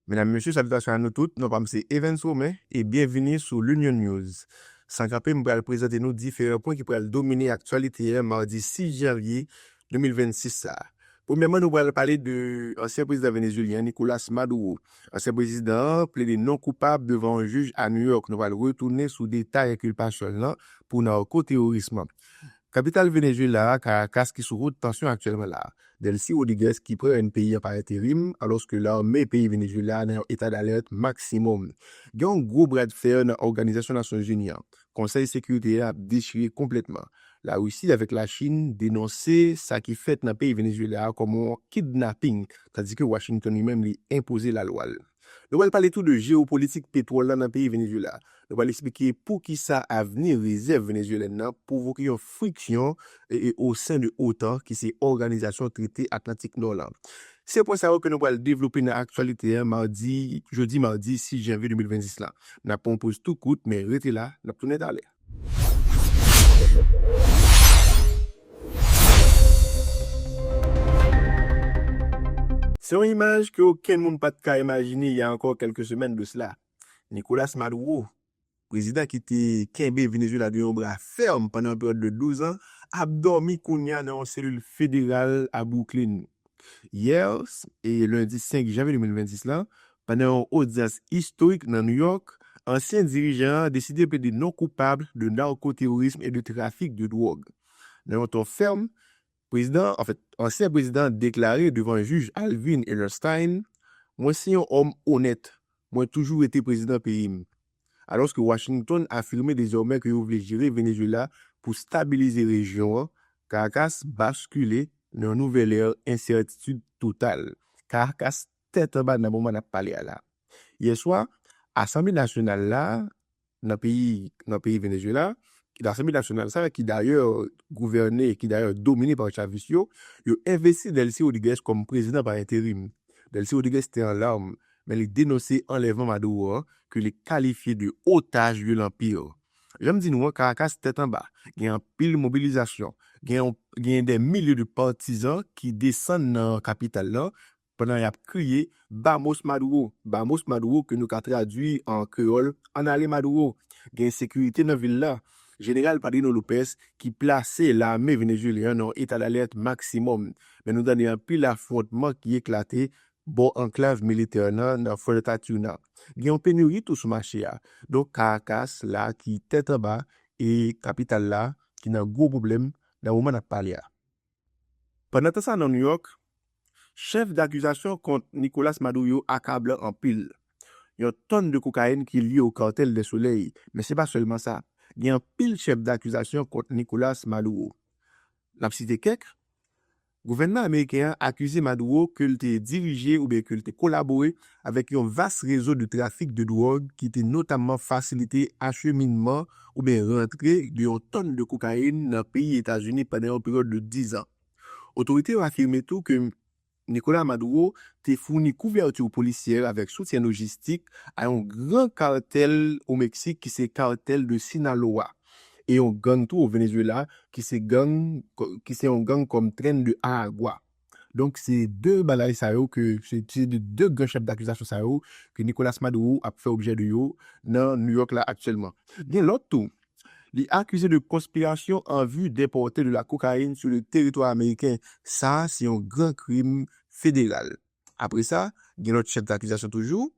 Medam mesye salitasyon a nou tout non pam se Evens Romain e byenvini sou L'Union News. San kanpe m pral prezante nou diferan pwen ki pral domine aktyalite an madi 6 janvye 2026 sa. Premyèman nou pral pale de ansyen prezidan venezuelyen an Nicolas Maduro. Ansyen prezidan an plede non koupab devan yon jij a New York. Nou pral retounen sou detay enkilpasyon l lan pou narko teworism. Kapital Venezuela a, Caracas ki sou haute tension aktyèlman la. Delcy Rodriguez ki pran rèn peyi an pa enterim, alòske lame peyi Venezuela a nan yon eta d'alerte maksimòm. Gen yon gwo bra de fer nan Òganizasyon Nasyon Zini an. Konsèy Sekirite a ap dechire konplètman. La Russie avèk la Chine denonse sa ki fèt nan peyi Venezuela a kòm yon kidnapping, tandis ke Washington li menm li enpoze la lwa l. Nou pral pale tou de jewopolitik petwòl la nan peyi Venezuela. Nou pral eksplike poukisa avni rezèv venezuelèn nan pwovoke yon friksyon osen de otan ki se Òganizasyon Trete Atlantik Nò lan. Se pwen sa yo ke nou pral devlope nan aktyalite a madi jodi madi 6 janvye 2026 lan. N ap pran yon poz tou kout men rete la, n ap tounen talè. Se yon imaj ke okenn moun pa t ka imajine y a ankò kèlke semèn de sla. Nicolas Maduro, prezidan ki te kenbe Venezuela de yon bra fèm pandan yon peryòd de 12 an, ap dòmi kounya nan yon selil federal a Brooklyn. yè, lendi 5 janvye 2026 la, pandan yon odyans istorik nan New York, ansyen dirijan an deside plede non koupab de narkoterorism e de trafik de dwòg. Nan yon ton fèm, prezidan, anfèt, ansyen prezidan an deklare devan jij Alvin Ellerstein, Mwen se yon òm onèt. Mwen toujou rete prezidan peyi m. Alòske Washington afime dezòmè ke yo vle jere Venezuela pou stabilize rejyon an, Caracas baskile nan yon nouvèl ère ensètitid total. Caracas tèt anba nan moman nap pale a la. Yè swa, Asanble Nasyonal la nan peyi nan peyi Venezuela, Asanble Nasyonal sa ki dayè gouvène, ki dayè domine pa chavis yo, yo envesti Delcy Rodriguez kòm prezidan pa enterim. Delcy Rodriguez te an larmes men li denonse anlèvman Maduro an ke li kalifye de otaj lye l anpil. Jan m di nou an, Karakas tèt anba, gen anpil mobilizasyon, gen yon gen dè milye de patizan ki desann nan kapital lan pandan y ap kriye Vamos Maduro! Vamos Maduro! ke nou ka tradui an kreyòl Ann ale Maduro! Gen ensekirite nan vil la. Jeneral Padrino Lopez ki plase lame venezuelyen an nan yon etadalèt maksimòm, men nou tande anpil afwontman ki eklate Bò anklav militè an nan, nan Fort Decatur nan, gen yon penuri tou sou mache a. Donk Karakas la ki tèt anba e kapital la ki nan gwo pwoblèm nan moman n ap pale a. Pandan tan sa nan Nouyòk, chèf dakizasyon kont Nicolas Maduro akablan anpil. Yon tòn de kokayin ki lye o Cartel del Soleil, men se pa sèlman sa. Gen anpil chèf dakizasyon kont Nicolas Maduro. N ap site kèk, Gouvènman ameriken an akize Maduro ke l te dirije oubyen ke l te kolabore avèk yon vas rezo de trafik de dwòg ki te notamman fasilite acheminman oubyen rantre de yon tòn de kokayin nan peyi Etazini pandan yon peryòd de 10 an. Otorite yo afime tou ke Nicolas Maduro te founi kouvèti polisyè avèk soutyen lojistik a yon gran kartèl o Meksik ki se Cartel de Sinaloa. e yon gang tou o Venezuela ki se gang ki se yon gang kòm Tren de Aragua. Donk se 2 bagay sa yo ke se se 2 gran chèf dakizasyon sa yo ke Nicolas Maduro ap fè objè de yo nan New York la aktyèlman. Gen lòt tou li akize de konspirasyon an vi depòte de la kokayin sou le teritwa ameriken. Sa a se yon gran krim federal. Apre sa gen lòt chèf dakizasyon toujou.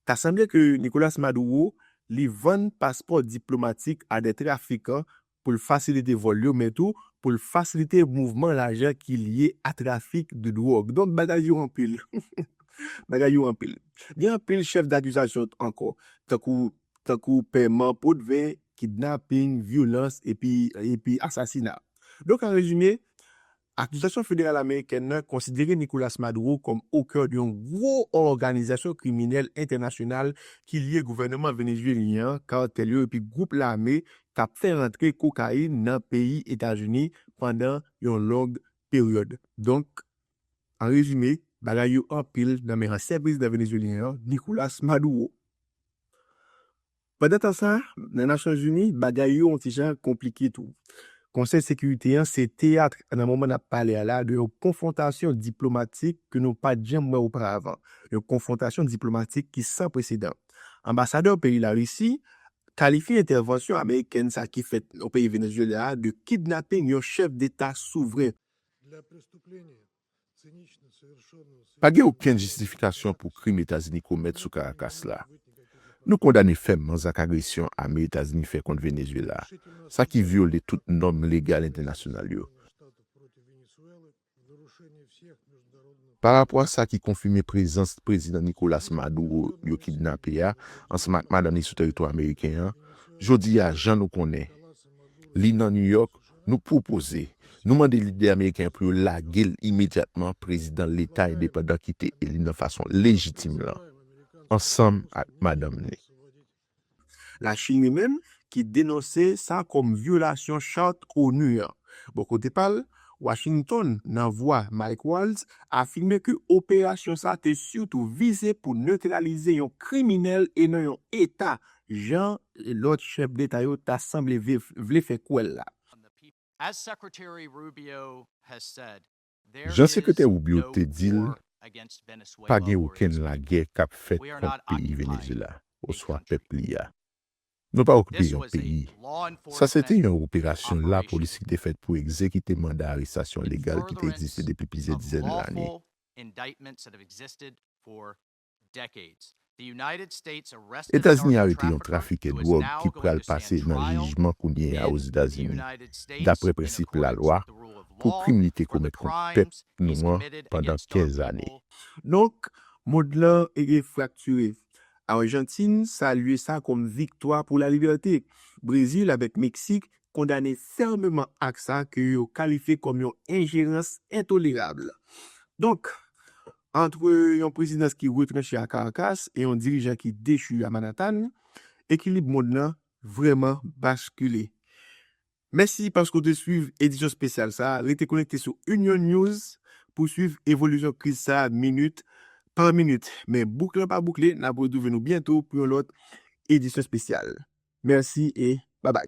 Ta sanble ke Nicolas Maduro li vann paspò diplomatik a de trafikan pou l fasilite vòl yo men tou pou l fasilite mouvman lajan ki lye a trafik de dwòg. Donk bagay yo anpil. Bagay yo anpil. Gen anpil chèf dakizasyon ankò tankou tankou pèman potven, kidnaping, vyolans epi epi asasina. Donk an rezime, Akizasyon federal amerikèn nan konsidere Nicolas Maduro kòm okè yon gwo òganizasyon kriminèl entènasyonal ki lye gouvèneman venezuelyen an, kartèl yo epi gwoup lame k ap fè rantre kokayin nan peyi Etazini pandan yon long peryòd. Donk, an rezime, bagay yo anpil nan men ansyen prezidan venezuelyen an, Nicolas Maduro. Pandan tan sa, nan Nasyonzini, bagay yo yon ti jan konplike tou. Konsèy Sekirite an se teyat nan moman n ap pale a la de yon konfwontasyon diplomatik ke nou pa t janm wè oparavan, yon konfwontasyon diplomatik ki san presedan. Anbasadè peyi Larisi kalifye entèvansyon amerikèn sa ki fèt nan peyi Venezuela a de kidnaping yon chèf deta souvren. Pa gen okenn jistifikasyon pou krim Etazini komèt sou Karakas la. Nou kondane fèmman zak agresyon ame Etazini fè kont Venezuela, sa ki vyole tout nòm legal entènasyonal yo. Pa rapò a sa ki konfime prezans Prezidan Nicolas Maduro yo kidnape a ansanm ak madann li sou teritwa ameriken an, jodi a, jan nou konnen, li nan New York, nou pwopoze, nou mande lidè ameriken yo pou yo lage l imedyatman prezidan Leta endepandan ki te eli nan fason lejitim lan, ansanm ak madanm li. Lachin li menm, ki denonse sa kòm vyolasyon Chart onu an. Bò kote pa l, Washington, nan vwa Mike Waltz, afime ke operasyon sa te sitou vize pou netralize yon kriminèl e non yon Eta jan lòt chèf deta yo ta sanble vle fè kwè l la. Jan Sekretè Rubio te di l, pa gen okenn lagè k ap fèt kont peyi Venezyela oswa pèp li a. Nou pa okipe yon peyi. Sa se te yon operasyon lapolis ki te fèt pou egzekite manda arestasyon legal ki te egziste depi plizyè dizèn lane. Etazini arete yon trafikè dwòg ki pral pase nan jijman kounye a Ozetazini, dapre prensip lalwa, pou krim li te komèt kont pèp nou an pandan 15 ane. Donk, mond lan fraktire. Arjantin salye sa kòm viktwa pou lalibète. Brezil avèk Meksik kondane fèmeman ak sa ke yo kalifye kòm yon enjerans entolerab. Donk, Antre yon prezidans ki retranche a Karakas e yon dirijan ki dechu a Manatan, ekilib mond lan vrèman baskile. Mèsi paske w te swiv edisyon spesyal sa a. Rete konekte sou Union News pou swiv evolisyon kriz sa a minit pa minit. Men bouk lan pa boukle, n ap retwouve nou byento pou yon lòt edisyon spesyal. Merci et bye bye.